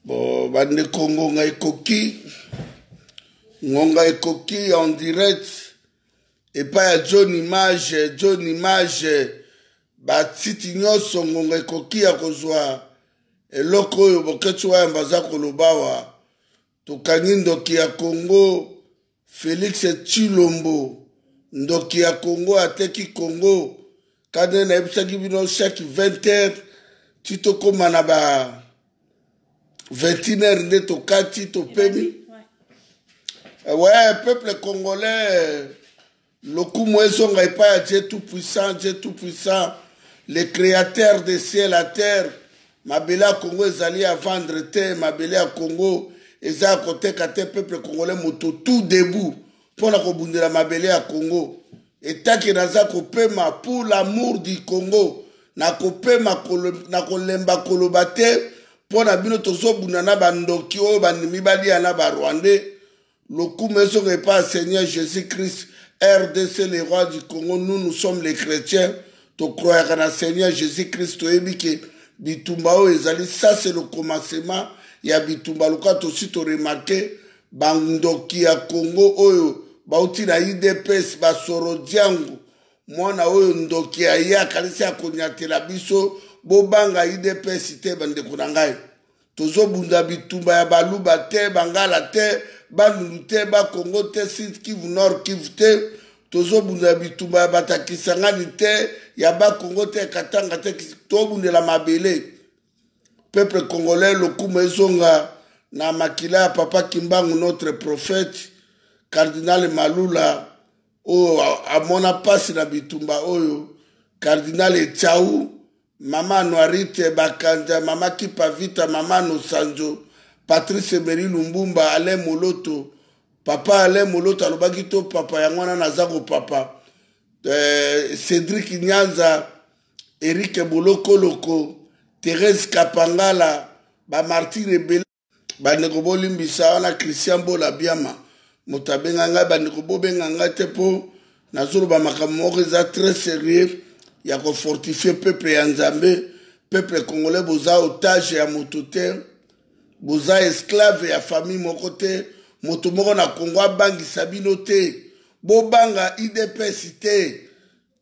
bo bandeko ngonga ekoki ngonga ekoki en direct epai ya john image john image batiti nyonso ngonga ekoki ya kozwa eloko oyo boketsi wayamba aza koloba wa Tokangi ndoki ya Congo Felix Tshilombo ndoki ya Congo ateki Congo kande nayebisaki bino chaque 20 heures ti tokóma na ba 21 heures nde tokati topemi ouais. ouais peuple congolais Lokumu ezonga epai ya Dieu tout puissant, Dieu tout puissant, le createur de ciel à terre. Mabele ya Congo ezali ya vendre te, mabele ya Congo eza ya koteka te. Peuple congolais moto tout debout mpo na kobundela mabele ya Congo. Etake naza kopema pour l'amour du Congo, nakopema nakolemba koloba te mpo na bino tozobunda na bandoki oyo bandimi balia na barwandais Lokumu ezonga epa Seigneur Jesus Christ, RDC le roi du Congo, nous nous sommes les chrétiens, tokroyaka na Seigneur Jesus Christ, toyebi ke bitumba oyo ezali ça c'est le commencement ya bitumba lokola tosi toremarke bandoki ya Congo oyo bauti na idps basoro diango mwana oyo ndoki ya ye akanisi akonyatela biso bobanga idps te bandeko na ngai Tozobunda bitumba ya baluba te, bangala te, bandundu te, bakongo te, sud kivu, nord kivu te. Tozobunda bitumba ya bato ya Kisangani te, ya bakongo te, ya Katanga te. Tobundela mabele. Peuple congolais, lokumu ezonga na makila ya Papa Kimbangu, notre prophète, Cardinal Malula, oyo amona pasi na bitumba oyo, Cardinal Echau, Mama Anuarite, Bakanja, Mama Kipa Vita, Mama Nosanjo, Patrice Emery Lumbumba, Alain Moloto. Papa Alain Moloto alobaki to papa yango wana naza kopapa. Eh, Cédric Nyanza, Eric Bolokoloko, Thérèse Kapangala, ba martyrs ebele bandeko bolimbisa wana christian bola biama moto abenga ngai bandeko bobenga ngai te mpo nazoloba makambo moko eza très sérieux ya kofortifie peuple ya nzambe peuple congolais boza otage ya moto te boza esclave ya famille moko te moto moko na congo abangisa bino te bobanga idps te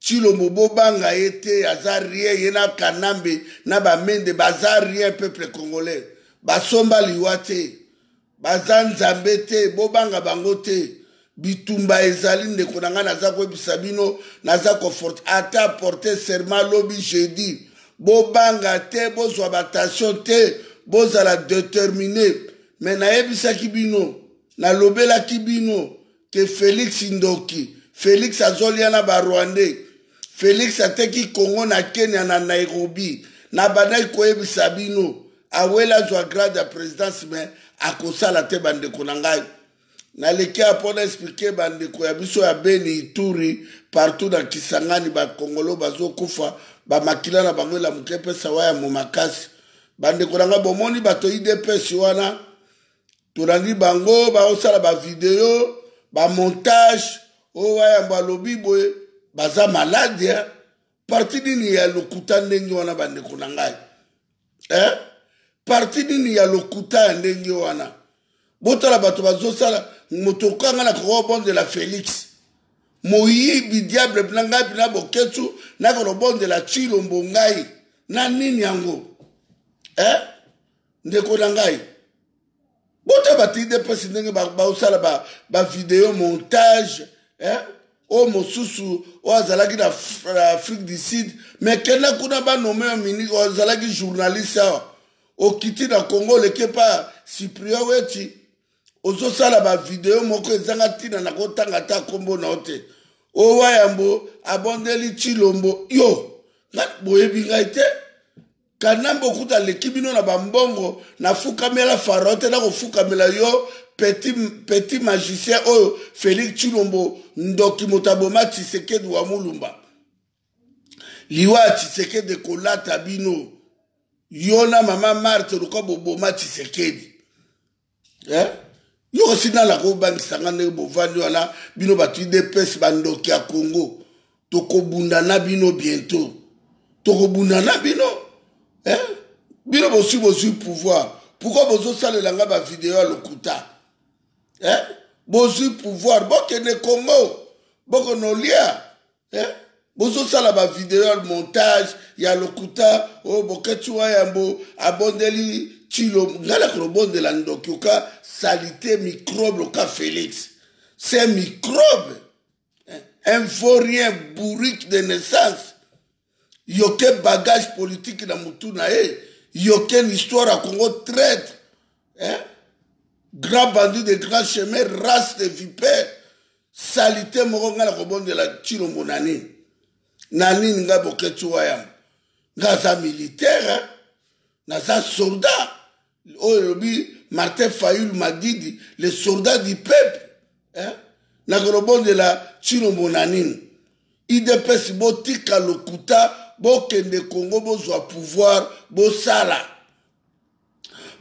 Tshilombo bobanga ye te aza rien ye na kanambe na bamende baza rien peuple congolais basomba liwa te baza nzambe te bobanga bango te bitumba ezali ndeko na ngai naza koyebisa bino naza koforte ata porte serment lobi jeudi bobanga te bozwa batension te bozala determine me nayebisaki bino nalobelaki bino ke felix ndoki felix azolia na barwandais felix ateki congo na kenya na nairobi nabandaki koyebisa bino awela azwa grade ya présidence me akosala te bandeko na ngai naleki ya mpo na explike bandeko ya biso ya beni ituri partout na kisangani bakongolo bazokufa bamakila na bango elamuki epesa waya mo makasi bandeko na ngai bomoni bato idps wana tolandi bango baosala bavideo bamontage oyo wayambo alobi boye baza maladi eh? parti nini ya lokuta ndenge wana bandeko na ngai eh? parti nini ya lokuta ya ndenge wana botala bato bazosala moto okanga na kokobondela felix moyibi diable na ngai mpena boketsu nakolobondela tshilombo ngai na nini yango eh? ndeko na ngai bota bato idps ndenge baosala bavideo ba montage eh? oyo mosusu oyo azalaki na afrique du sud me kenda kuna banome ya mini oyo azalaki journaliste awa okiti na congo oleki epa cyprien weti ozosala bavideo moko ezanga ntina na kotanga ata nkombo na yo te owa yambo abondeli cilombo yo boyebi ngai te kanambe okuta aleki bino na bambongo nafukamela farao te nakofukamela yo petit, petit magicien oyo félix tshilombo ndoki moto aboma tshisekedi wa mulumba liwa ya tshisekedi ekolata bino yo na mama marte lokola boboma tshisekedi eh? yo osi nalaka obangisa nga ndenge bovandi wana bino bato idps bandoki ya congo tokobunda na bino bientôt tokobunda na bino eh? bino bosui bozwi pouvoir pourkoi bozosalela nga bavideo ya lokuta eh? bozwi pouvoir bokende congo bokonolia eh? bozosala bavideo ya montage ya lokuta oyo oh, bokati wa yambo abondeli tilo ngai nakolobondela ndoki oka salite microbe oka félix c'est microbe eh, un vaurien bourrique de naissance yoke bagage politique na motu na ye yoke l'histoire ya congo traître eh? grand bandit de grand chemin race de vipère salite moko ngai nakobondela cilombo na nini na nini ngai boketsu wayambo ngai aza militaire naza soldat oyo elobi martin fayul madidi le soldat du peuple eh? nakolobondela cilombo na nini idps botika lokuta bokende kongo bozwa pouvoir bosala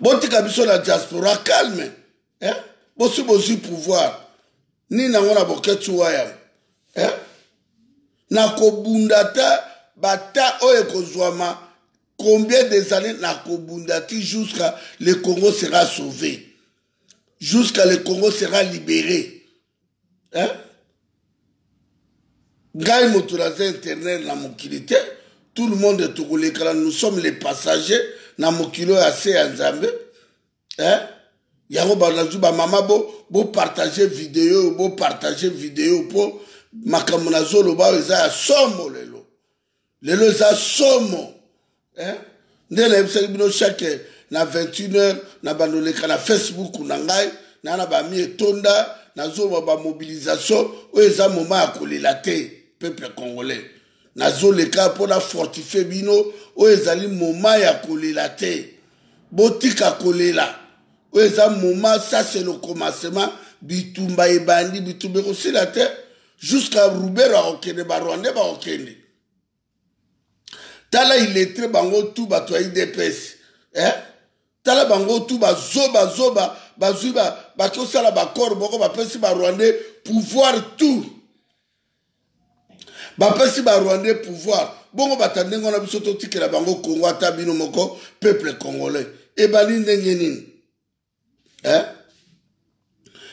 botika biso na diaspora calme eh? bosi bozwi pouvoir nini yango na boketsu wayam eh? na kobunda te bata oyo ekozwama combien des années na kobunda ti jusqu'à le congo sera sauvé jusqu'à le congo sera libéré eh? ngai moto naza internet na mokili te tout le monde tokolekana nous sommes les passagers na mokili oyo ase ya nzambe eh? yango banazwi bamama bopartage bo video bopartage video mpo makambo nazoloba oyo eza ya somo lelo lelo eza somo eh? nde nayebisaki bino chaque na 21 heure na bandoleka na facebook na ngai na na bami etonda nazoloba bamobilisation oyo eza moma ya kolela te peuple congolais nazoleka mpo na fortifie bino oyo ezali moma ya kolela te botika kolela oyo eza moma sase lokomasema bitumba ebandi bitumba ekosila te jusqu'à rubero akokende barwandais bakokende tala iletre bango tu bato ya idps eh? tala bango tu bazoba zoba bazwi bakosala bakor moko bapesi barwandais pouvoir tout bapesi ba rwandais pouvoir bongo bata ndenge wana biso totikela bango congo ata bino moko peuple congolais ebandi ndenge nini eh?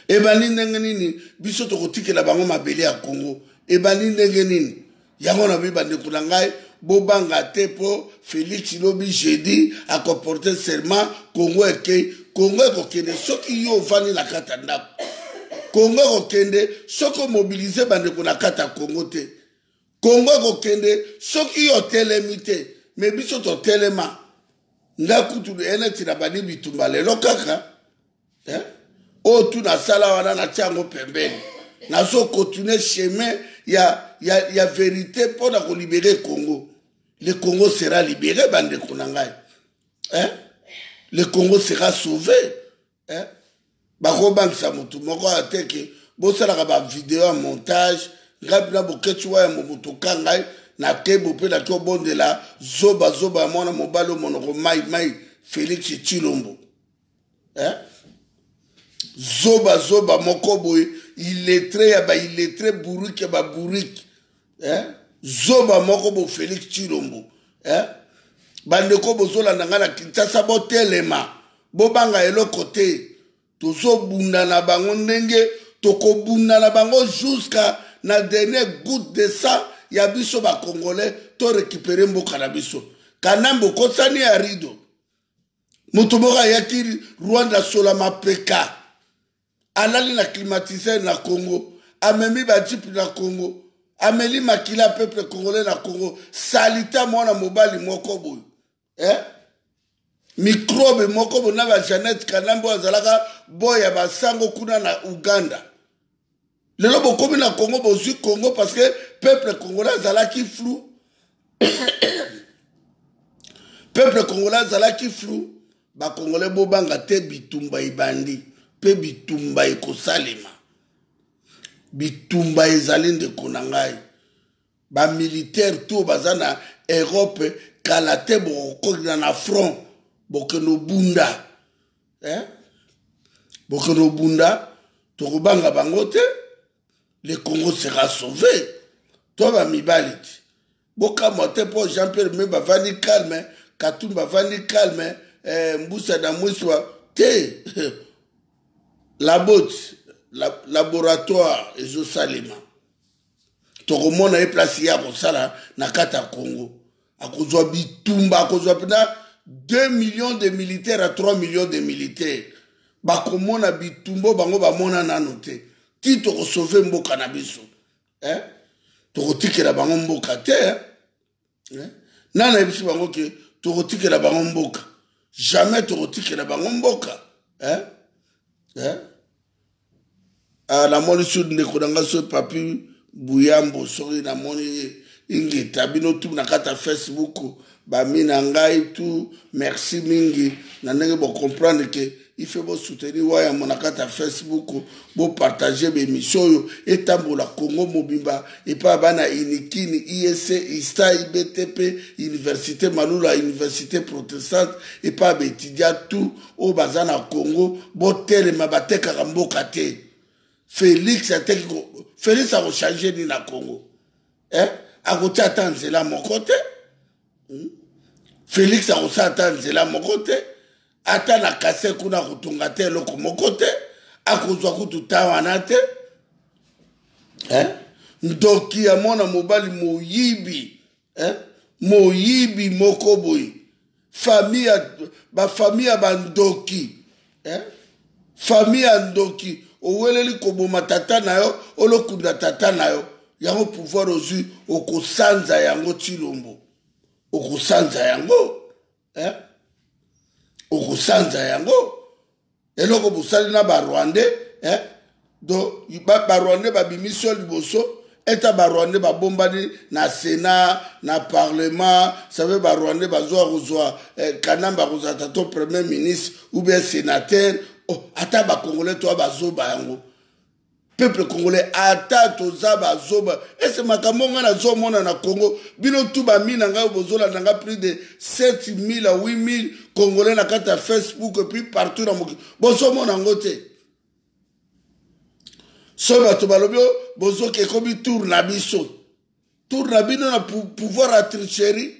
ebandi ndenge nini biso tokotikela bango mabele ya congo ebandi ndenge nini yango na bi bandeko na ngai bobanga te mpo Felix lobi jeudi ako porter serment Congo eke Congo ekokende soki yo ovandi na kata ndako Congo ekokende soki omobilize bandeko na kata Congo te Congo ekokende soki yo otelemi te me biso totelema nga kutu eneti na bandi bitumba lelo kaka eh? oyo tu nasala wana natya yango pembeni nazokontinue chemin ya, ya, ya verite mpo na kolibere congo le congo sera libere bandeko na ngai eh? le congo sera sauve eh? bakobangisa motu moko ateke bosalaka bavideo ya montage ngai mpena bokeci wayambo motu ka ngai nakebo mpe naki obondela zobazoba ya mwana mobali omonoko mai mai félix cilombo eh? zoba zoba moko boye iletre ya bailetre bourike ya babourike eh? zoba moko bo félix chilombo eh? bandeko bozolanda ngai na kinshasa botelema bobanga eloko te tozobunda na bango ndenge tokobunda na bango jusqu'à na dernier goutte de sang ya biso bacongolais torekipere mboka na biso kanambe okosani ya rido moto moko ayaki rwanda asola mapeka alali na climatiseur na congo amemi bajipe na congo ameli makila ya peuple congolais na congo salita mwana mobali moko boye eh? mikrobe moko boye na bajanete kanambe oyo azalaka boya basango kuna na uganda lelo bokomi na congo bozwi congo parce que peuple congolais azalaki flou peuple congolais azalaki flou bacongolais bobanga te bitumba ebandi mpe bitumba ekosalema bitumba ezali ndeko na ngai bamilitaire to baza na europe kala te bokokokina na front bokende obunda eh? bokende obunda tokobanga bango te le congo sera sauve to bamibali ti bokamwa te mpo jean pierre me bavandi calme katum bavandi calme eh, mbusa na mwiswa te labot la, laboratoire ezosalema tokomona ye place ye akosala na kati ya congo akozwa bitumba akozwa mpena 2 millions de militaire à 3 millions de militaire bakomona bitumba bango bamona nano te ti tokosove mboka na biso eh? tokotikela bango mboka te eh? eh? nani nayebisi bango ke tokotikela bango mboka jamais tokotikela bango mboka eh? Eh? Ah, namoni su ndeko na ngai so papi buyambo soki namoni ye ingeta bino tu na kati ya facebook bami na ngai tu merci mingi na ndenge bocomprendre ke il faut bo soutenir waya mona kati ya facebook bo partager ba émission oyo etambola congo mobimba epai bana inikini iec ista ibtp université malula université protestante epai ba étudia tout oyo baza na congo botelema batekaka mboka te félix ateki félix akochange nini na congo eh? akotia ata nzela moko te hmm? félix akosala ata nzela moko te ata na kase kuna akotonga te eloko moko te akozwa kutu ta wana te eh? ndoki ya mwana mobali moyibi eh? moyibi moko boye famille ya bafamille ya bandoki eh? famille ya ndoki oweleli koboma tata na yo olokunda tata na yo yango pouvoir ozwi okosanza yango tilombo okosanza yango eh? okosanza yango eloko bosali na barwandais eh? do barwandais babimisi yo liboso eta barwandais babombani na sénat na parlement save barwandais bazwa kozwa eh, kanambe akozala tato premier ministre ou bien sénateur oh, ata bakongolais toa bazoba yango peuple congolais ata toza bazoba ese makambo ngai nazomona na congo bino tu bami na ngai bozolanda ngai plus de 7000 a 8000 congolais na kati ya facebook epuis partout na mokili bozomona yango te so bato balobi o bozoki ekomi tour na biso tour na bino na pouvoir ya tricherie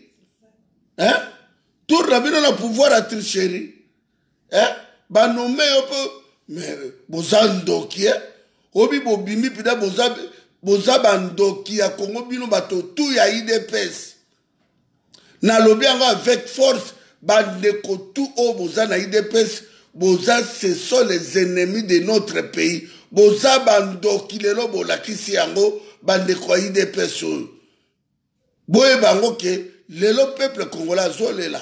tour na bino na pouvoir ya tricherie eh? banome yo mpe mais boza ndoki eh? obi bobimi mpida boza, boza bandoki ya kongo bino bato tu ya idps nalobi yango avec force bandeko tu oyo boza na idps boza ce sont les ennemis de notre pays boza bandoki lelo bolakisi yango bandeko ya idps oyo boyeba yango ke lelo peuple congolais azolela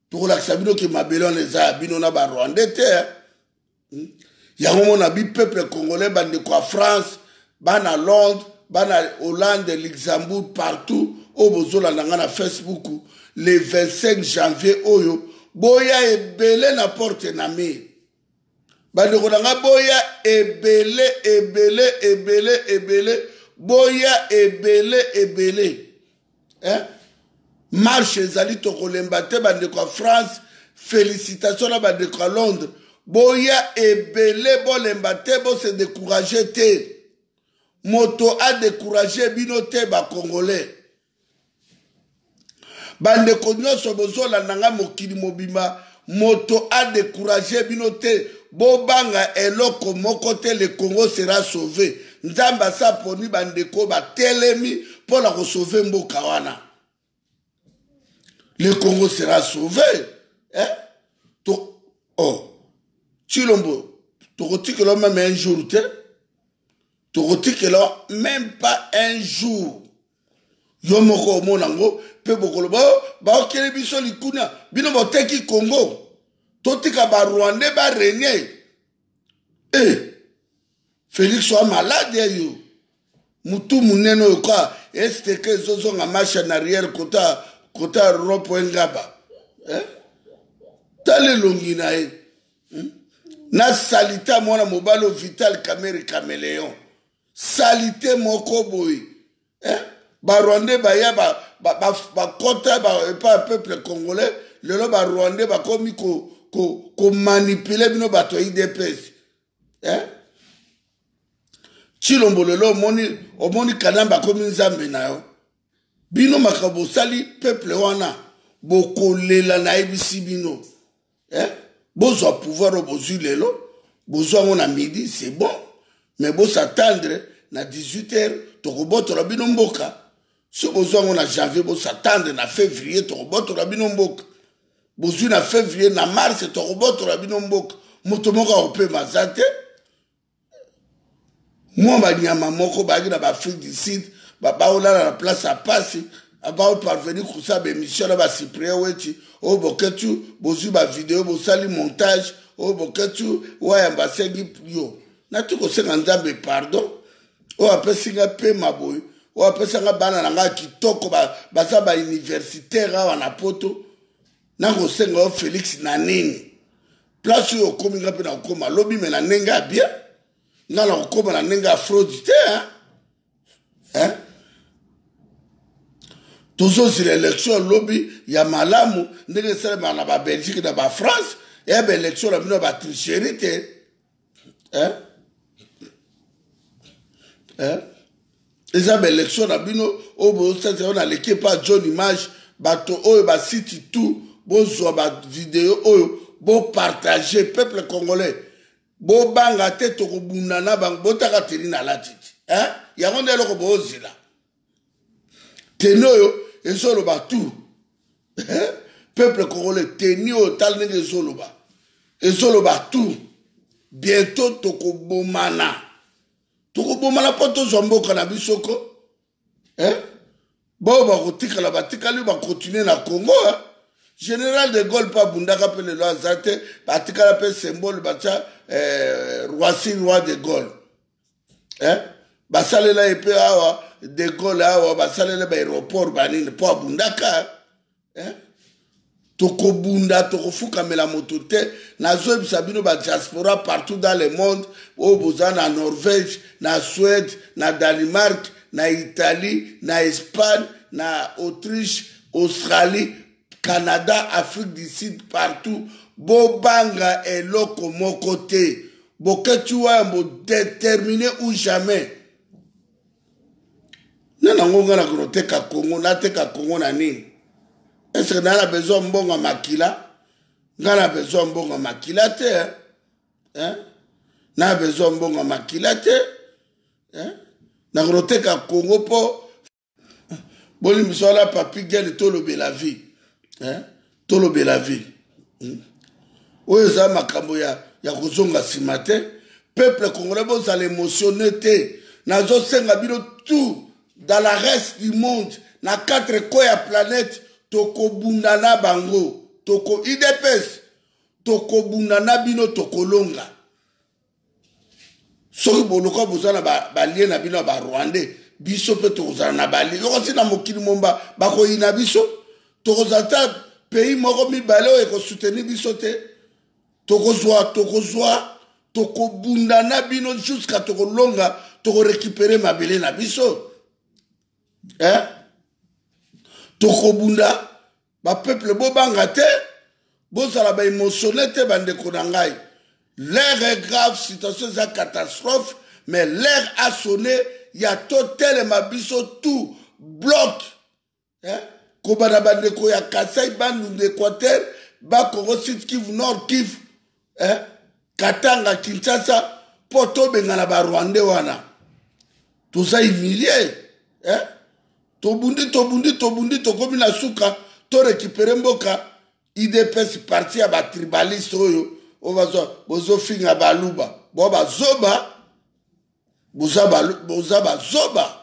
tokolakisa bino ke mabele wana eza ya bino na barwandais te hmm? yango mona bi peuple congolais bandeko ya france bana londres bana hollande luxembourg partout oyo bozolanda ngai na facebook le 25 janvier oyo boya ebele na porte na mire bandeko na ngai boya ebele ebele ebele ebele boya ebele ebele eh? marche ezali tokolemba te bandeko ya france félicitation na bandeko ya londres boya ebele bolemba te bose décourage te moto adécourage bino te bacongolais bandeko nyonso bozolanda ngai mokili mobimba moto adécourage bino te bobanga eloko moko te le congo sera sauve nzambe asi aponi bandeko batelemi mpo na kosauve mboka wana le congo sera sauve eh? to oh. chilombo tokotikela meme un jour te tokotikela meme pas un jour yo moko omona yango mpe bokoloba oh, baokeli biso likuna bino boteki kongo totika barwandais barenie e eh, felix oa malade ya yo motu monene oyo ka esteke ezozonga marche en arrière kota kota ropo engaba eh? tala elongi na ye hmm? na salita mwana mobali o vital kamere cameleon salite moko boye eh? barwandais baya bakota ba, ba, epa peuple congolais lelo barwandais bakomi komanipule ko, ko bino bato ya idps eh? chilombo lelo omoni, omoni kanambe akomi nzambe na yo bino makambo bosali peuple wana bokolela nayebisi bino eh? bozwa pouvoir oyo bozwi lelo bozwa yango na midi c'est bon mais bosatendre na 18 heures tokobotola bino mboka soki bozwa yango na janvier bosatendre na février tokobotola bino mboka bozwi na février na mars tokobotola bino mboka moto moko akopema aza te mwa banyama moko bayaki na baafrique du sud baolala na place ya mpasi baoparvenir kosala baemission na basiprier weti oyo boketu bozwi bavideo bosali montage oyo boketu wayamba asengi yo nati kosenga nzambe pardon oyo apesi ngai mpema boye oyo apesaka bana na ngai kitoko baza bauniversitaire awa na poto nakosenga yo felix na nini place oyo okomi nga mpe nakokoma lobi me na ndenge ya bien nga nakokoma na ndenge ya fraude te hein? tozozila élection ya lobi ya malamu ndenge esalemaka na babelgique na bafrance eye baélection na bino ya batricherie te eh? Eh? eza baélection na bino oyo bosati yango na leki epa john image bato oyo basiti tout bozwa bavideo oyo bopartage peuple congolais bobanga te tokobunda na bango botaka teni na latiti eh? yango nde eloko boozila teni oyo ezoloba tout eh? peuple congolais teni oyo tala ndenge ezoloba ezoloba tout bientôt tokobomana tokobomana mpo tozwa mboka na biso ko eh? baoyo bakotikala batikali bakontinue na congo eh? général de gaulle mpe abundaka mpe lelo aza te batikala mpe symbole batya eh, roisi roi de gaulle eh? basalela ye mpe awa de gaulle awa basalela baaéroport banini mpo abundaka eh? tokobunda tokofukamela moto te nazoyebisa bino badiaspora partout dans le monde oyo boza na norvège na suède na danemark na italie na espagne na autriche australie Canada, Afrique du Sud, partout. Bobanga eloko moko te. Boketshu wayambo determine ou jamais. Na nango nga na koteka Congo, nateka Congo na nini? Est-ce que na na besoin mbongo makila? Nga na besoin mbongo makila te. Hein? hein? na besoin mbongo makila te hein? na koteka Congo po bolimbisa wala papi gene tolobela vie eh? tolobela vie hmm? oyo eza makambo ya, ya kozonga nsima te peuple congolais bozala émotionné te nazosenga bino tout dans la reste du monde na quatre coin ya planète tokobunda na bango toko idps tokobunda na bino tokolonga soki boluka boza na balie na bino ya barwandais biso mpe tokozala na balie yokosi na mokili momba bakoyina biso tokozala ta pays moko mibale oyo ekosoutenir biso te tokozwa tokozwa tokobunda na bino jusqu'à tokolonga tokorekipere mabele na biso eh? tokobunda ba peuple bobanga te bozala ba emotionne te bandeko na ngai l'air est grave situation eza catastrophe mais l'air a sonne ya totelema biso tout bloc eh? kobanda bandeko ya kasai bandundu équateur bakongo sud kivu nord kivu eh? katanga kinshasa mpo tobengana barwande wana toza humilie eh? tobundi tobundi tobundi tokomi na suka torekipere mboka idps parti ya batribaliste oyo oyo bozofinga baluba bo bazoba boza bazoba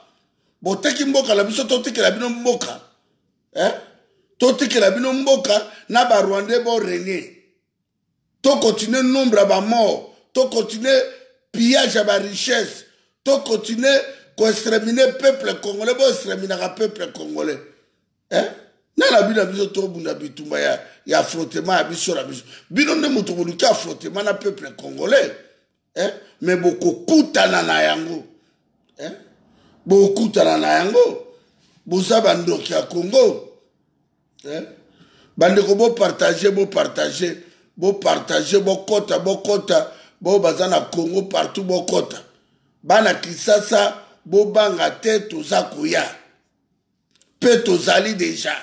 boteki mboka na biso totikela bino mboka eh? totikela bino mboka na barwandais borene to continuer nombre ya bamort to continuer pillage ya barichesse to continuer koextremine peuple congolais boextreminaka peuple congolais eh? nani abi na biso tobunda bitumba ya, ya frotema ya biso na biso bino nde moto boluki ya frotema na peuple congolais eh? me bokokutana na yango eh? bokutana na yango boza bandoki ya congo eh? bandeko bopartage bopartage bopartage bokota bokota baoyo baza na congo partout bokota bana kisasa bobanga te toza koya mpe tozali deja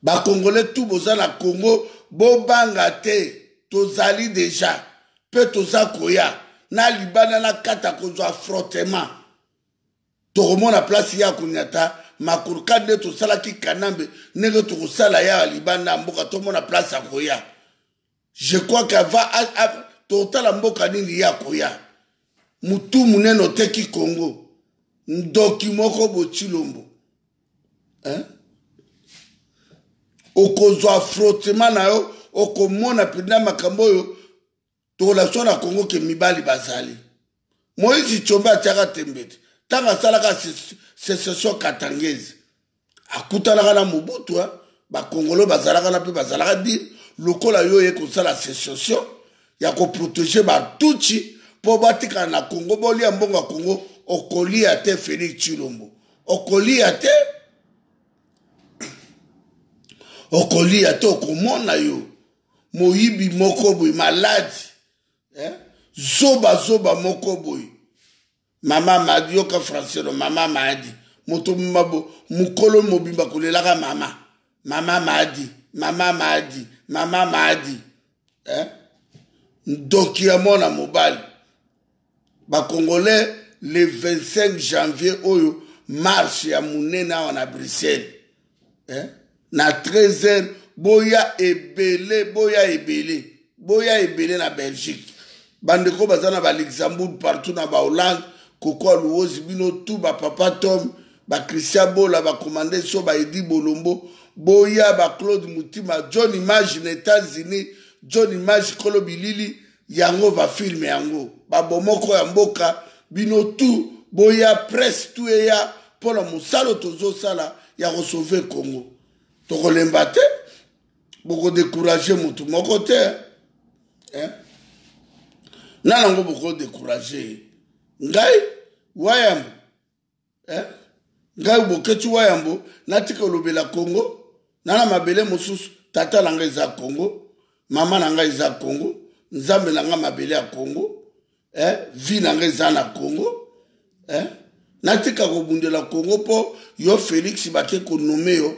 bakongole tu boza na congo bobanga te tozali deja mpe toza koya na libanda na kata kozwa frottema tokomona place ya konyata makurka nde tosalaki kanambe ndenge tokosala ya libanda ya mboka tomona place ya koya je crois que ava totala mboka nini ye akoya mutu munene oteki congo ndoki moko botshilombo hein? okozwa frottement na yo okomona mpenza makambo oyo tokolakisa na congo ke mibali bazali moïse tshombe atiaka tembe te ntango asalaka secession katangese akutanaka na mobutu bakongolo bazalaka na mpe bazalaka dire lokola yo oye kosala secession ya koprotege batuci mpo batikala na kongo bolia mbongo ya kongo okolia te félix tshilombo okolia te okolia te okomona yo moyibi moko boye maladi eh? zoba zoba moko boye mama madi yoka francelo mama madi moto mabo mokolo mobimba kolelaka mama mama madi mama madi mama madi eh? ndoki ya mwana mobali bakongolais le 25 janvier oyo marche ya monene awa na bruxelles eh? na 13 heures boya ebele boya ebele boya ebele na belgique bandeko baza na baluxembourg partout na bahollande kokoa luwozi bino tu bapapa tom bachristien bola bakomande so baedi bolombo boya baclaude motima john image na états-unis john image kolo bilili yango ba film yango ba bomoko ya mboka bino tout boya presse tout eya mpo na mosala tozosala ya kosauve congo tokolemba te bokodekourage motu moko te eh? na nango bokodekourage ngai wayambo eh? ngai boketsi wa yambo natika olobela congo na na mabele mosusu tata na ngai eza congo mama na ngai eza congo nzambe na ngai mabele ya congo eh? vi na ngai eza na congo eh? natika kobundela congo mpo yo félix bake konome yo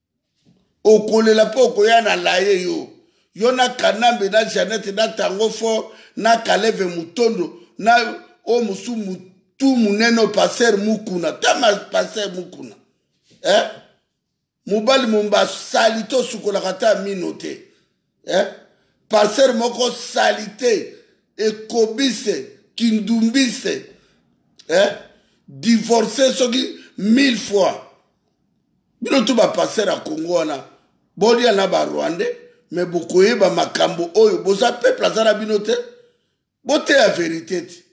okolela mpe okoya na laye yo yo na kanambe na janete na tango fort na kaleve motondo na oyo mosusu mutu monene oyo paster mukuna tama paster mukuna eh? mobali momba sali tosukolaka ata mino te eh? parcelle moko salite ekobise kindumbise eh? divorce soki mille fois bino tu baparcelle ya kongo wana bolia na barwandais me bokoyeba makambo oyo boza peuple aza na bino te boteya verite ti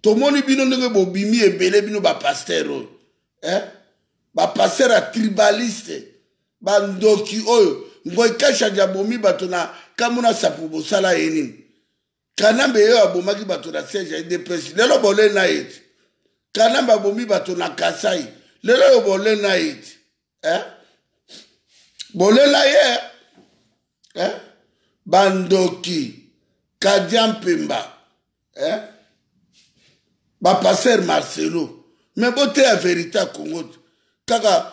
tomoni bino ndenge bobimi ebele bino bapaster oyo eh? bapaster ya tribaliste bandoki oyo ngoi kashadi abomi bato na kamuna sapu bosala ye nini kanambe ye oyo abomaki bato na siège ya idps lelo bole na ye ti kanambe abomi bato na kasai lelo oyo bole na ye ti eh? bolela ye eh? bandoki kadia mpemba eh? bapaster marcelo me boteya verité ya congo kaka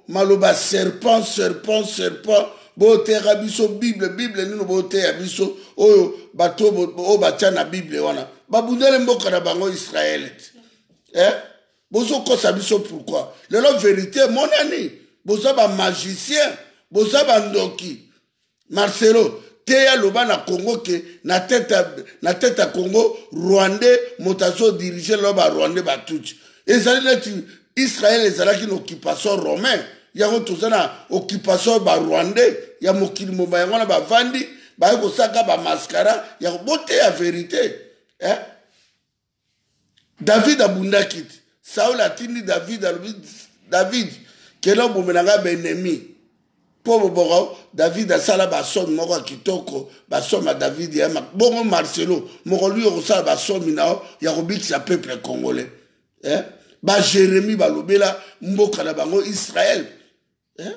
maloba serpent serpent serpent boteyaka biso bible bible nino boteya biso oyo bato oyo batya na bible wana babundeli mboka na bango israele te eh? bozokosa biso pourquoi lelo verité emonani boza bamagicien boza bandoki marcelo teya loba na congo ke na tete na tete ya congo rwandais moto azodirige lelo barwandais batuti ezali neti israel ezalaki na occupation romain yango toza na occupation barwandais ya mokili mobimba yango wana bavandi baye kosaka bamaskara ya boteya verité eh? david abundaki te saul atindi david alobi david kenda obomela ngai baennemi mpo boboko david asala basomi moko ya kitoko basomi ya david ya bongo marcelo mokoluki okosala basomi na yo ya kobikisa peuple congolais eh? bajeremi balobela mboka na bango israel eh?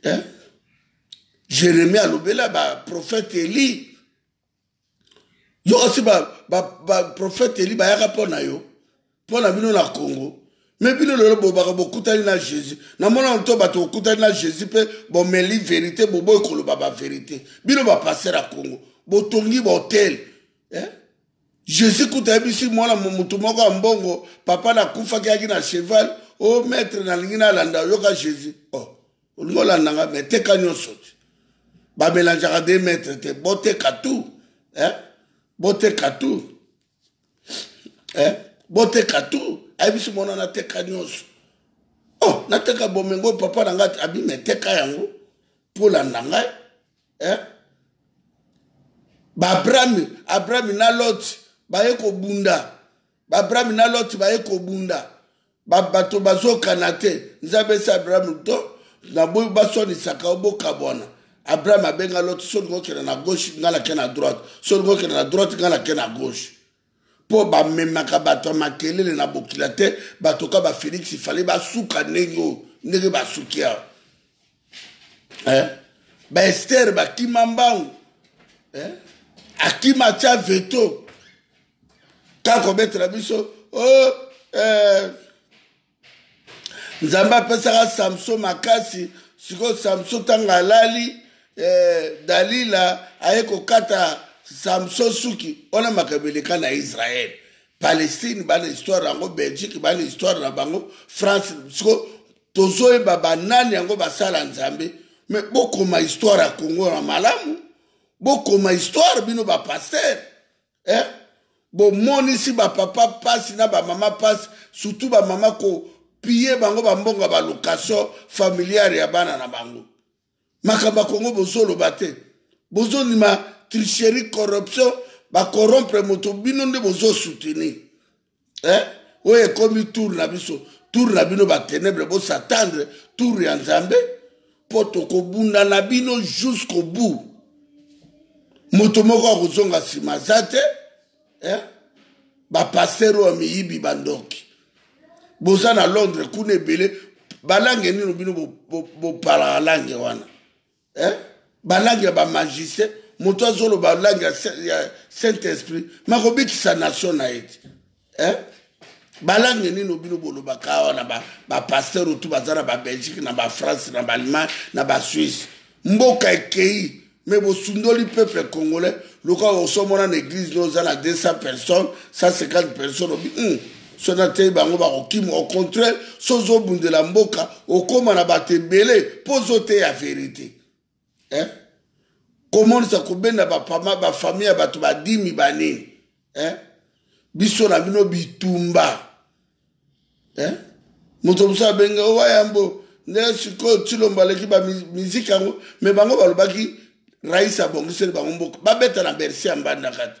Eh? jeremi alobela baprofete eli yo osi baprofete eli bayaka mpo na yo mpo na bino na congo me bino lelo bobaka bokutani na jésus namonana to bato bokutani na jésus mpe bomeli verité boboyi koloba baverité bino bapaster ya congo botongi bahotel eh? jésus kuta ayebisi mwana motu moko ya mbongo papa nakufaki yaki na cheval o oh, maître nalingi nalanda oyoka jésus oh. olingi olanda nga me teka nyonso te bamelangeaka de mètre te boteka tout eh? boteka tout eh? boteka tout ayebisi mwana nateka nyonso oh nateka bomengo papa na ngai abima eteka yango mpo olanda ngai eh? baabrami abrami na loti baye kobunda baabrami na loti baye kobunda ba bato bazokana te nzambe esi abraham to na boyi basonisaka yo bokabwana abraham abenga lote so olingi okenda na gauche ngai nake na droite so olingi okenda na droite ngai nake na gauche mpo bamemaka bato ya makelele na bokila te bato ka bafelix ifale basuka ndenge oyo ndenge basuki awa eh? baester bakima mbangu eh? akima atya veto ta kobetela biso o oh, eh, nzambe apesaka samson makasi sikoyo samson ntango alali eh, dalila aye kokata samson suki wana makambo eleka na israele palestine bana histoire yango belgique bana histoire na bango france siko tozoyeba banani yango basala nzambe me bokoma histoire ya kongo na malamu bokoma histoire bino bapaster eh? bomonisi bapapa mpasi na bamama mpasi surtout bamama kopiye bango bambongo ya balocation familiare ya bana na bango makambo ya kongo bozoloba te bozondima tricherie corruption bakorompre moto bino nde bozosoutenir eh? oyo ekomi tour na biso tour na bino batenebre bosatandre tour ya nzambe mpo tokobunda na bino jusqu'au bout moto moko akozonga nsima aza te eh? bapaster oyo miyibi bandoki boza na londres kuna ebele balange nino bino bopalaka bo, bo lange wana eh? balangi ya bamagicien moto azoloba langi ya saint esprit makobikisa nation na ye te eh? balangi nini bino bolobaka awa na bapaster otu baza na babelgique na bafrance na baallemagne na basuisse mboka ekei me bosundoli peuple congolais lokola osomona na église no oza na 200 personnes 150 personnes obi mm. soki ateyi bango bakokima au contraire so ozobundela mboka okóma na bato ebele mpo ozoteya verité eh? komonisa kobenda bapama bafamille ya bato badimi banini eh? biso na bino bitumba eh? moto mosusu abenge owa yambo nde sikoyo tilombo aleki bamiziki yango me bango balobaki rais abongiseli bango mboka babeta na bersi ya mbandaka te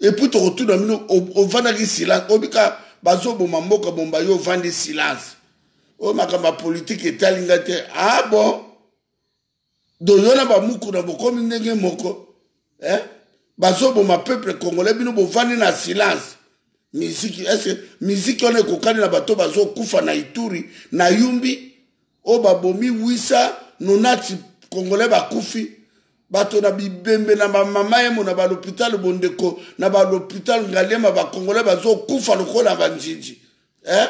et puis tokotuna bino ovandaki silence obika bazoboma mboka bomba yo ovandi silence oyo makambo ya politike etali nga te ah bon doyo na bamukuna bokomi ndenge moko eh? bazoboma peuple congolais bino bovandi na silence miziki eske miziki wana ekokani na bato bazokufa na ituri na yumbi oyo babomi 890 congolais bakufi bato na bibembe na bamama yemo na balopitalo bondeko na balopitalo ngaliema bacongolais bazokufa lokola banjinji eh?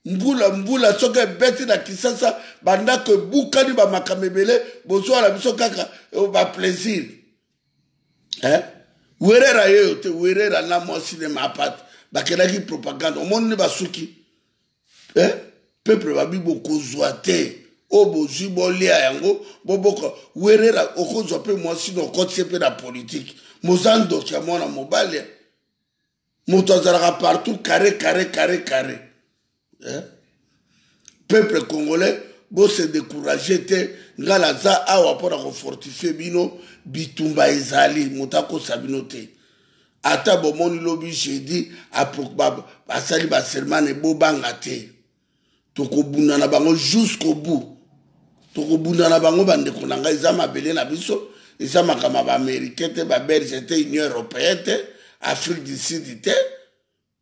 mbula mbula soki ebeti na kisasa bandako ebukani bamakambo ebele bozwa na biso kaka eh, baplaisir eh? werera yeyo te werera na mwa sinema apate bakendaki propagande omoni nde basuki eh? peuple babi bokozwa te oyo oh, bozwi bolia yango boboka werera okozwa mpe mwasi na okotisi mpe na politike moza ndoki ya mwana mobali moto azalaka partout carré carré carré carré eh? peuple congolais bose décourage te ngai naza awa mpo na kofortifie bino bitumba ezali moto akosa bino te ata bomoni lobi jeudi basali basermane bobanga te tokobunda na bango jusqu'au bout tokobunda na bango bandeko na ngai eza mabele na biso eza makambo ya baaméricain te babelge te union européen te afrique du sud te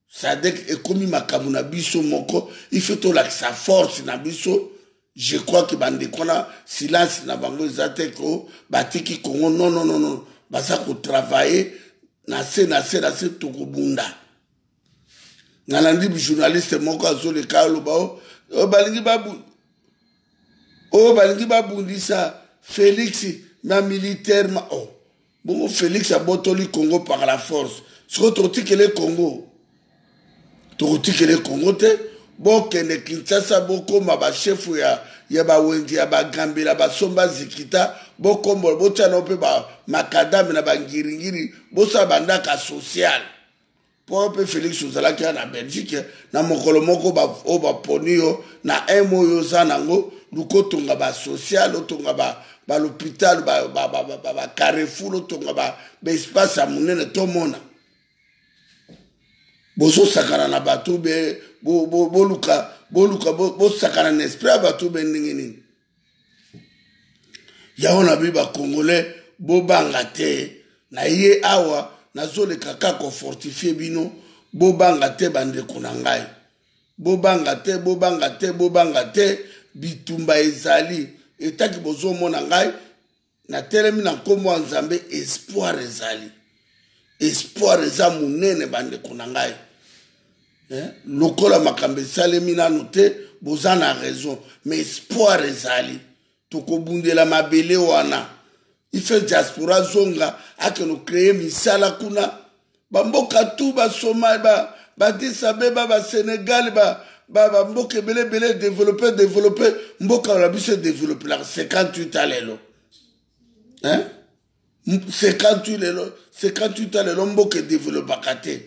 sadek ekomi makambo na biso moko ife tolakisa force na biso je crois ke bandeko wana silence na bango eza te ko batiki kongo nononono baza kotravaille na se na se na se tokobunda nalandi journaliste moko azoleka aloba o oh, balingi babu oyo oh, balingi babundisa felix na militaire ma o oh. Bongo Felix abotoli Congo par la force. Siko tokotikele Congo. Tokotikele Congo te. Bokende Kinshasa bokoma ba chef ya ya ba wenzi ya ba gambela ba somba zikita bokombo botia na pe ba makadame na ba ngiringiri bosala bandaka sociale mpo yo mpe felix ozalaki ya na belgique na mokolo moko oyo baponi yo na eme oyo oza nango luka otonga basocial otonga balhôpital bacarrefour otonga baespace ya monene tomona bozosakana na bato be boluka bosakana na esprit ya bato be ndenge nini yango na bi bacongolais bobanga te na ye awa nazoleka ka kofortifie bino bobanga te bandeko na ngai bobanga te bobanga te bobanga te bitumba ezali etaki bozomona ngai natelemi na nkombo ya nzambe espoir ezali espoir eza monene bandeko na ngai eh? lokola makambo esalemi nano te boza na raison ma espoir ezali tokobundela mabele wana ife diaspora zonga akende okreye misala kuna bamboka tu basomai badis abeba basenegal bamboka ebele ebele edevelope edevelope mboka na biso edevelopelaka 58 a lelo 58 lelo 58 a lelo mboka edevelopaka te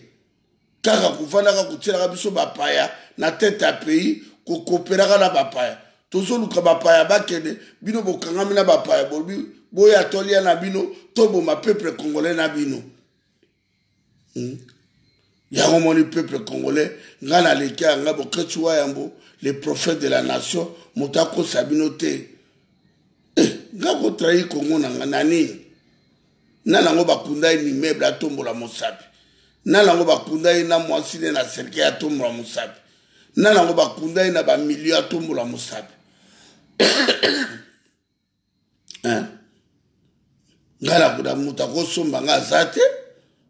kaka kofandaka kotielaka biso bapaya na tete ya pays kokopelaka na bapaya tozoluka bapaya bakende bino bokangami na bapaya bolobi boya tolia na bino toboma peuple congolais na bino hmm? yango omoni peuple congolais ngai naleki ya ngai boketsi wa yambo le prophète de la nation moto akosa bino te eh, ngai kotrahi kongo na ngai na nini na nango bakunda ye mimeuble atombola mosapi na nango bakunda ye na mwasi ne na serkei atombola mosapi na nango bakunda ye na bamilio atombola mosapi ngai nakuta moto akosomba ngai aza te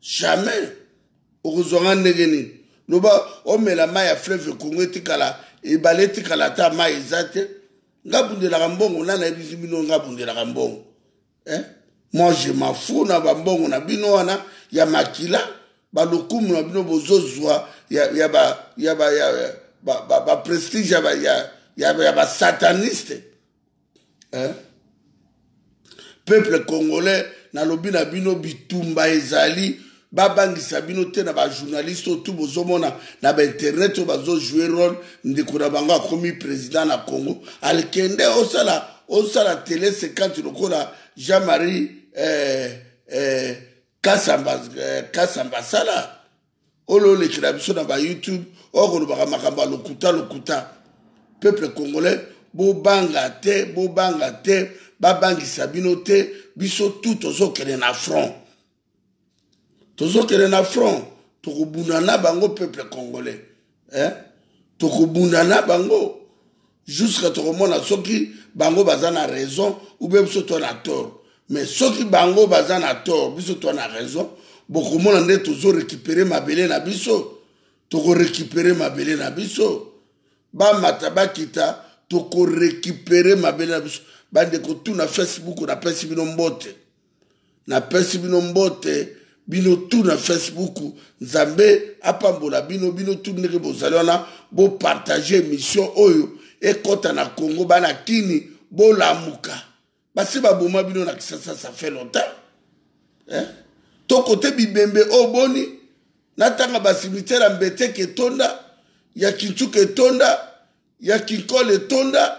jamais okozwa ngai ndenge nini loba omela mai ya fleuve congo etikala ebale etikala ata mai eza te ngai bundelaka mbongo nani ayebisi bino ngai bundelaka mbongo eh? moi je m'en fous na bambongo na bino wana ya makila balokumu na bino bozozwa ya, ya ba ya ba ya ba, ba, ba prestige ya ba ya, ya, ya ba sataniste eh? peuple congolais nalobi na bino bitumba ezali babangisa bino te na bajournaliste oyo tu bozomona na bainternet oyo bazojoue role ndeko na bango akomi président na congo alkende osala osala tele 50 lokola jean marie eh, eh, kasamba, eh, kasamba sala olo olekela biso na ba youtube okolobaka makambo ya lokuta lokuta peuple congolais bobanga te bobanga te babangisa bino te biso tu tozokende na front tozokende na front tokobuna na bango peuple congolais eh? tokobunda na bango jusqu'à tokomona soki bango baza na raison ou bien biso toa na tort mais soki bango baza na tort biso toa na raison bokomona nde tozo récupérer mabele na biso toko récupérer mabele na biso bamata bakita toko récupérer mabele na biso bandeko tuna facebook napesi bino mbote napesi bino mbote bino tu na facebook nzambe apambola bino bino tu ndenge bozali wana bopartage émission oyo ekɔta na congo bana kini bolamuka basi baboma bino na kisasa ça fait longtemps eh? to kote bibembe oyo boni natanga basimitiere ya mbeteke etonda ya kincuka etonda ya kinkole etonda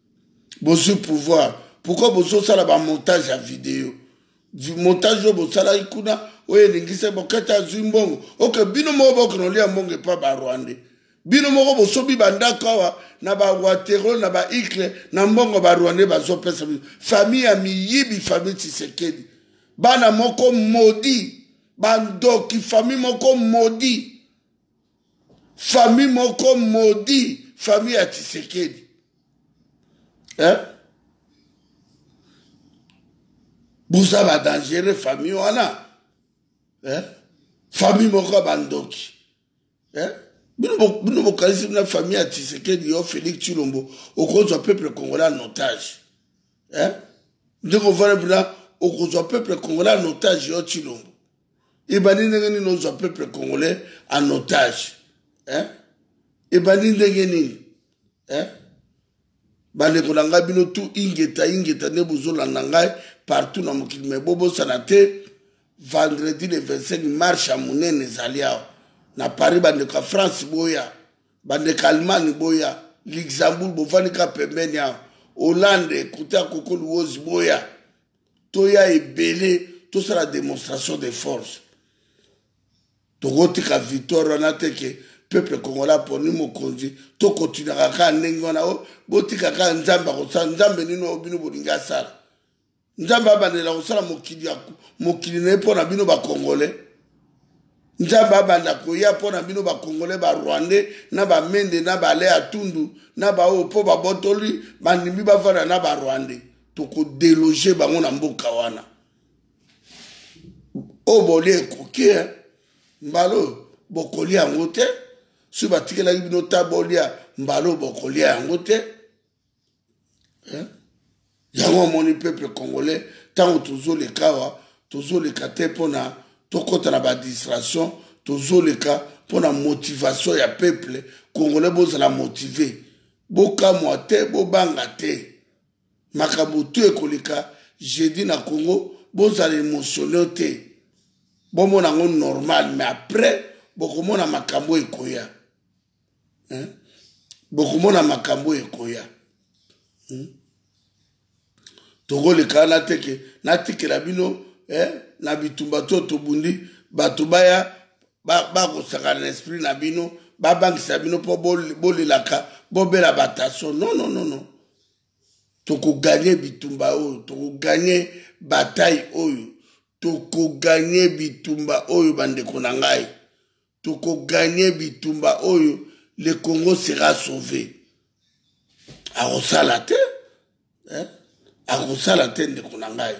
bozwi pouvoir pourkoi bozosala bamontage ya video montage oyo bosalaki kuna oyo elingisa bokete azwi mbongo oke bino moko bokona olia mbongo epa barwande bino moko bosobi bandako awa na bawatero na baikle na mbongo barwande bazopesa bino famille ya miyibi famille tisekedi bana moko modi bandoki famille moko modi famille moko maudit famille ya tisekedi hein? boza badangere famille wana hein? famille moko ya bandoki hein? bino bokanisi na famille ya tisekedi yo félix chilombo okozwa peuple congolais en otage hein? ndenge ovana mpena okozwa peuple congolais en otage yo chilombo ebandi ndenge nini ozwa peuple congolais en otage eh? ebandi ndenge nini eh? bandeko na ngai bino tu ingeta ingeta nde bozolanda ngai partout na mokili me bobosana te vendredi le 25 marche ya monene ezali awa na paris bandeko ya france boya bandeko ya allemagne boya luxembourg bovandi ka pembeni awa hollande kote ya koko luwozi boya toya ebele tosala demonstration de force tokotika victoire wana te ke peuple congolais aponi mokonzi tokotinaka kaka ndenge wana o oh, botika kaka nzambe akosala nzambe nini oyo bino bolingi asala nzambe abandela kosala mokili ya mokili na ye mpo na bino bakongole nzambe abanda koya mpo na bino bakongole barwandais na bamende na bale atundu na baoyo mpo babotoli bandimi bafanda na barwandais toko deloge bango na mboka wana oyo bolie ekoki eh. mbala oyo bokolia yango te soki batikelaki bino ta bolia mbala oyo bokolia yango te eh. yango omoni peuple congolais ntango tozoleka awa tozoleka te mpo na tokɔta na badistraction tozoleka mpo na motivation ya peuple congolais bozala motive bokamwa te bobanga te makambo tout ekoleka jeudi na congo bozala emotionnel te bomona yango normal mais après bokomona makambo ekoya hein? bokomona makambo ekoya hmm? tokoleka wana te ke natikela bino eh, na bitumba to tobundi bato baya bakosakana ba na esprit na bino babangisa bino mpo bolelaka bobela bataso non non non non tokoganye bitumba oyo tokoganye batai oyo tokoganye bitumba oyo bandeko na ngai tokoganye bitumba oyo le congo sera sauve akosala te eh? akosala te ndeko na ngai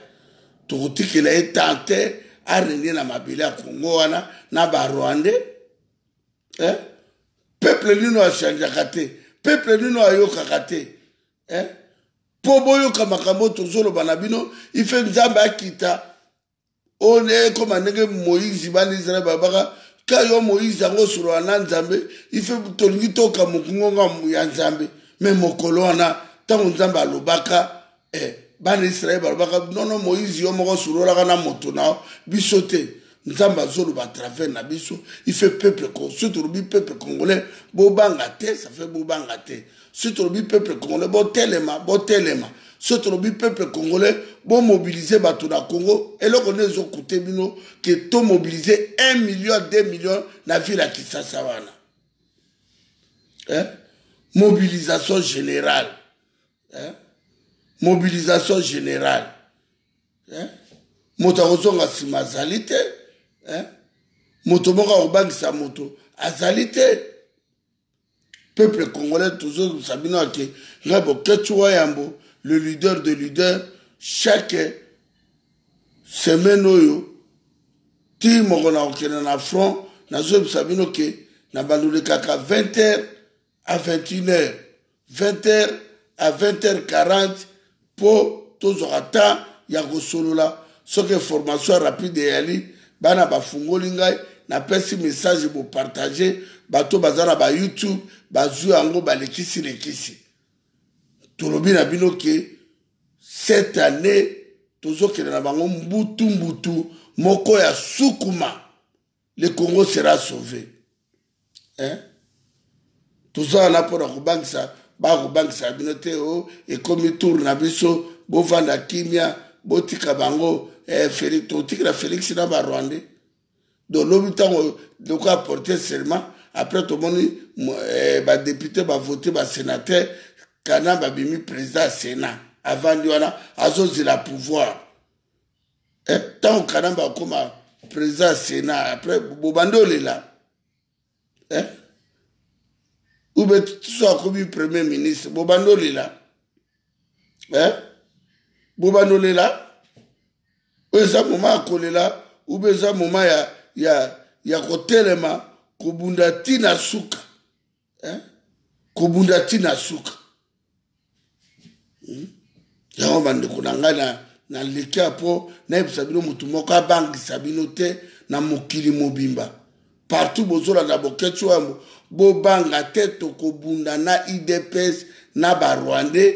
tokotikela ye temps te arenie na mabele ya congo wana na barwandais eh? peuple nino achangeaka te peuple nino ayokaka te eh? mpo boyoka makambo tozoloba na bino ife nzambe akita oyo nde ekoma ndenge moïse bana israel babaka ka yo moïse yango osolola na nzambe ife tolingi toka mokungonga ya nzambe me mokolo wana ntango nzambe alobaka eh, bana israele balobaka nono moïse yo moko osololaka na moto na biso te nzambe azoloba travers na biso il fait peuple soki tolobi peuple congolais bobanga te ça fait bobanga te soki tolobi peuple congolais botelema botelema soki tolobi peuple congolais bomobilize bato na congo eloko nde ezokute bino ke tomobilize 1 million 2 million na ville ya kisasa wana eh? mobilisation générale eh? mobilisation générale eh? moto akozonga nsima azali te eh? moto moko akobangisa moto azali te peuple congolais tozozongisa bino ake ngai boketsu wa yambo le leader de leader chaque semaine oyo ti moko na kokende na front nazoyebisa bino ke na bandolekaka 20 heures à 21 heures 20 heures à 20 heures 40 mpo tozwaka temps ya kosolola soki information rapide eyali bana bafungoli ngai napesi message bopartage bato baza na bayoutube bazwi yango balekisi lekisi tolobi na bino ke cette année tozokende na bango mbutu mbutu moko ya sukuma le congo sera sauve hein? toza wana mpo na kobangisa bakobangisa bino te o oh, ekomi tour na biso bovanda kimia botika bango eh, felix totikela felix na barwandais do lobi ntango loko aporte serment après tomoni eh, badepute bavote basenateur kana babimi président ya sénat avandi wana azozela pouvoir eh, ntango kanamba akoma président ya sénat après bobandi olela eh? ube so akomi premier ministre bobandi olela eh? bobandi olela oyo eza moma ya kolela ube eza moma ya, ya, ya kotelema kobunda ntina suka eh? kobunda ti na suka hmm? yango bandeko na ngai na nalekia mpo nayebisa bino motu moko abangisa bino te na mokili mobimba partout bozolanda boketsi oyo bobanga te tokobunda na idps na barwandais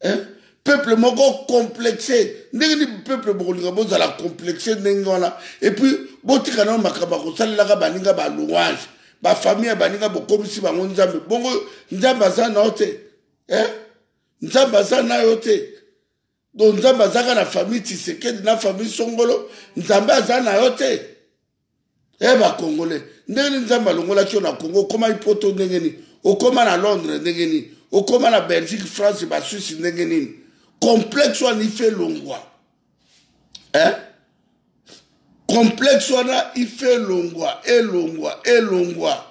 eh? peuple moko complexe ndenge ni peuple bokolinga bozala complexe ndenge wana epuis botika nao makambo ya kosalelaka baninga balouange bafamille ya baninga bokomisi bango nzambe bongo nzambe aza nao te eh? nzambe aza nayo te donc nzambe azaka na famille tisekedi na famille songolo nzambe aza na yo te e eh, bacongolais ndenge nini nzambe alongolaki yo na congo okomaki poto ndenge nini okoma na londres ndenge nini okoma na belgique france basuisse ndenge nini complexe wana ife elongwa eh? complexe wana ife elongwa elongwa elongwa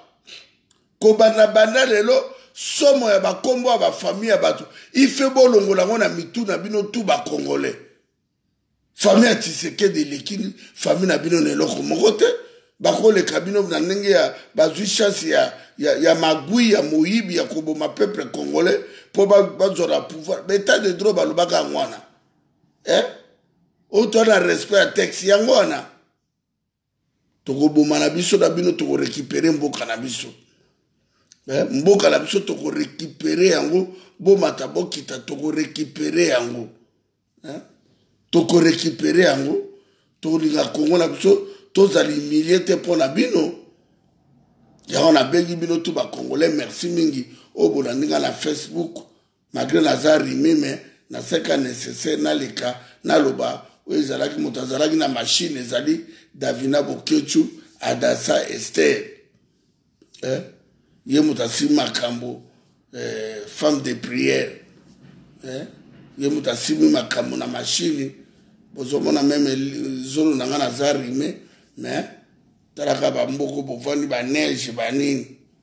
kobanda banda lelo somo ya bakombo ya bafamille ya bato ife bolongola yango na mitu na bino tu bakongolais Famille ya Tshisekedi eleki famille na bino na eloko moko te. Bakoleka bino na ndenge ya bazwi chance ya, ya, ya magui ya moyibi ya koboma peuple congolais mpo bazwa na pouvoir. Beta de droit balobaka yango wana eh? Oyo toa na respect ya texte yango wana tokoboma na biso na bino tokorekipere mboka na biso eh, mboka na biso tokorekipere yango bomata bokita tokorekipere yango eh, tokorekipere yango tokolinga kongo na biso tozala humilie te mpo na bino yango nabengi bino tu bacongolais merci mingi oyo bolandinga na facebook malgre naza rime me naseka necessaire naleka naloba oyo ezalaki moto azalaki na mashine ezali davina bokechu adasa ester eh? ye moto asimi makambo eh, femme de prière eh? ye moto asimi makambo na mashine bozomona meme zolo na ngai naza rime mais talaka bamboko bovandi baneige banini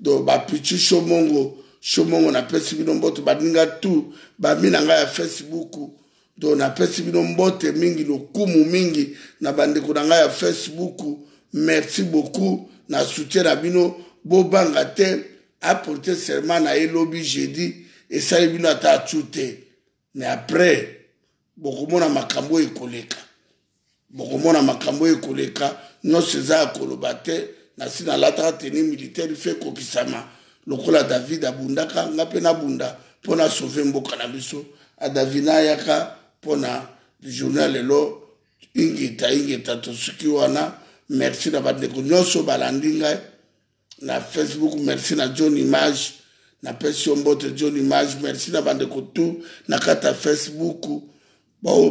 donc bapichu shomongo shomongo napesi bino mbote baninga tu bami na ngai ya facebook donc napesi bino mbote mingi lokumu mingi na bandeko na ngai ya facebook merci beaucoup na soutien na bino bobanga te aporte serment na ye lobi jeudi esali bino ata acu te mais après bokomona makambo oyo ekoleka bokomona makambo oyo ekoleka nyonso eza ya koloba te nasi nalataka teni militaire fe ekokisama lokola david abundaka nga mpe nabunda mpo na sauve mboka na biso adavina ayaka mpo na journal lelo ingeta ingeta tosuki wana merci na bandeko nyonso balandi ngai na facebook merci na john image napesi yo mbote john image merci na bandeko tu na kati ya facebook baoyo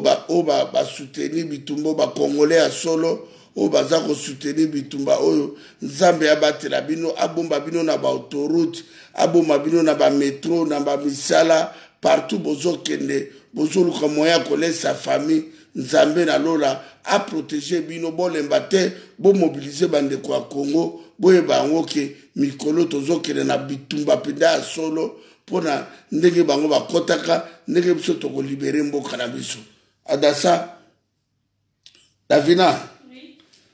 basoutenir ba, bitumba bakongole ya solo oyo baza kosoutenir bitumba oyo nzambe abatela bino abomba bino na baautorute abomba bino na bametro na bamisala partout bozokende bozoluka moyen ya kolesa famille Nzambe na lola a proteger bino bolemba te bo mobiliser bandeko ya Congo boyeba yango ke mikolo tozokende na bitumba mpenza ya solo mpo na ndenge bango bakɔtaka ndenge biso tokolibere mboka na biso adasa davina oui.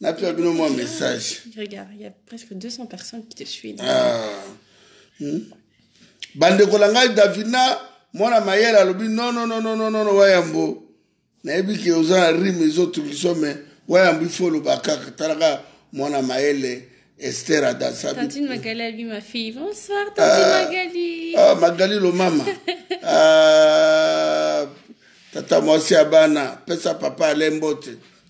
napesa bino mwa message regarde il y a presque 200 personnes qui te suivent ah. hmm? bandeko na ngai davina mwana mayele alobi nononononono wayambo nayebi ke oza na rime ezotungisa me wayambo ifo oloba kaka talaka mwana mayele Esther Adassa. Tantine Magali a vu ma fille. Bonsoir, Tantine ah, Magali. Ah, Magali le maman. ah, tata mwasi ya bana pesa papa alembote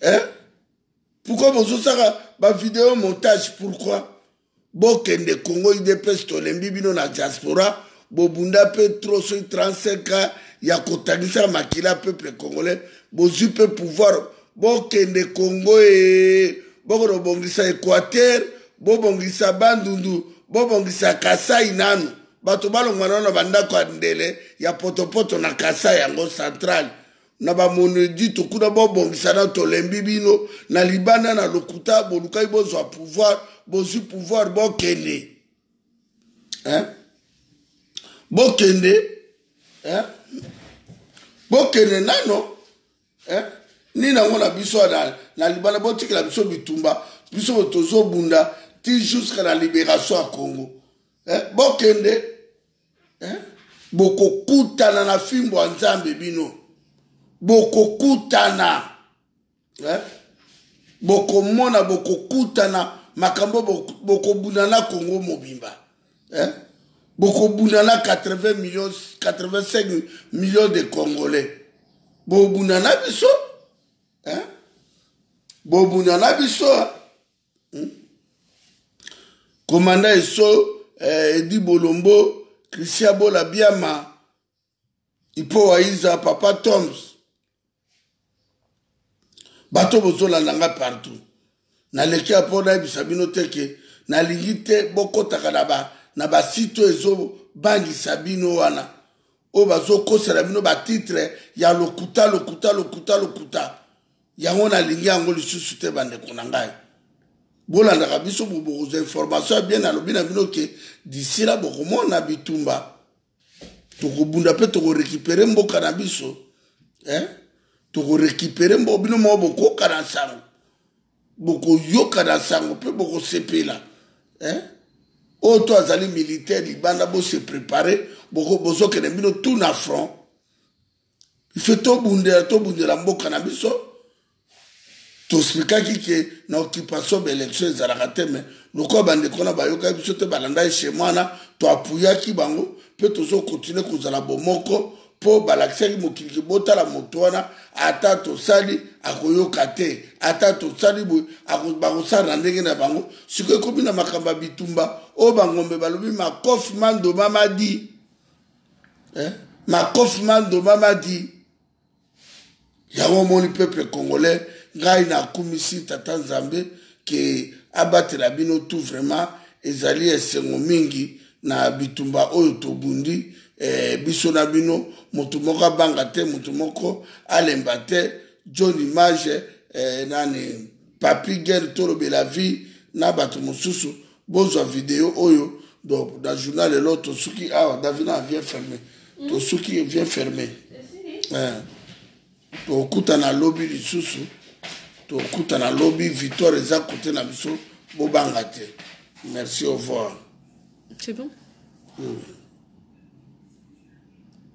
eh? pourkoi bozosaka bavideo montage pourkoi bokende congo idps tolembi bino na diaspora bobunda mpe tro soki 35 ans ya kotangisa makila peuple congolais bozwi mpe pouvoir bokende congo e bokono bongisa équateur bobongisa bandundu bobongisa kasai nanu bato balongwa nano na bandako ya ndele ya potopoto na kasai yango centrale na bamonedito kuna bobongisa na tolembi bino na libanda na lokuta bolukaki bozwa pouvoir bozwi pouvoir bokende eh? bokende eh? bokende nano eh? nini yango na biso na, na libanda botikela biso bitumba biso tozobunda ti jusqu'à la libération ya congo eh? bokende eh? bokokutana na fimbo ya nzambe bino bokokutana eh? bokomona bokokutana makambo bokobunda na congo mobimba eh? bokobunda na 80 millions 85 millions de congolais bobunda na biso eh? bobunda na biso eh? hmm? komanda eso eh, edi bolombo christian bola biama ipo waiza papa toms bato bozolanda ngai partout naleki ya mpo nayebisa bino te ke nalingi te bokotaka na ba na basite oyo ezobangisa bino wana oyo bazokosela bino batitre ya lokuta lokuta lokuta lokuta yango nalingi yango lisusu te bandeko na ngai bolandaka biso bokozwa information ya bien nalobi na bino ke disila bokomona bitumba tokobunda mpe tokorekipere mboka na biso eh? tokorekipere mboka bino moko bokoyoka na nsango bokoyoka na nsango mpe bokosepela eh? oyo to azali militaire libanda bose prepare bozokende bino tout na front biso tobundela tobundela mboka na biso tosplikaki ke na occupation baélection ezalaka te me lokola bandeko na bayokaki biso te balandaki shema wana toapuyaki bango mpe tozokontinue kozala bomoko mpo balakisaki mokili kibotala moto wana ata tosali akoyoka te ata tosali boye bakosala na ndenge na bango sikoyo ekomi na makambo ya bitumba oyo bangombe balobi makofi mandoma madi eh? makofi mandomamadi yango omoni peuple congolais ngai nakumisi tata nzambe ke abatela bino tout vraiment ezali esengo mingi na bitumba oyo tobundi eh, biso na bino moto moko abanga te moto moko alemba te john image eh, nani papi guerre tolobela vie na bato mosusu bozwa video oyo donc na journal elo tosuki awa ah, davina vient ferme tosuki vient ferme eh. tokutana lobi lisusu tokutana lobi victoire eza kote na biso bobanga te merci au revoir c'est bon oui.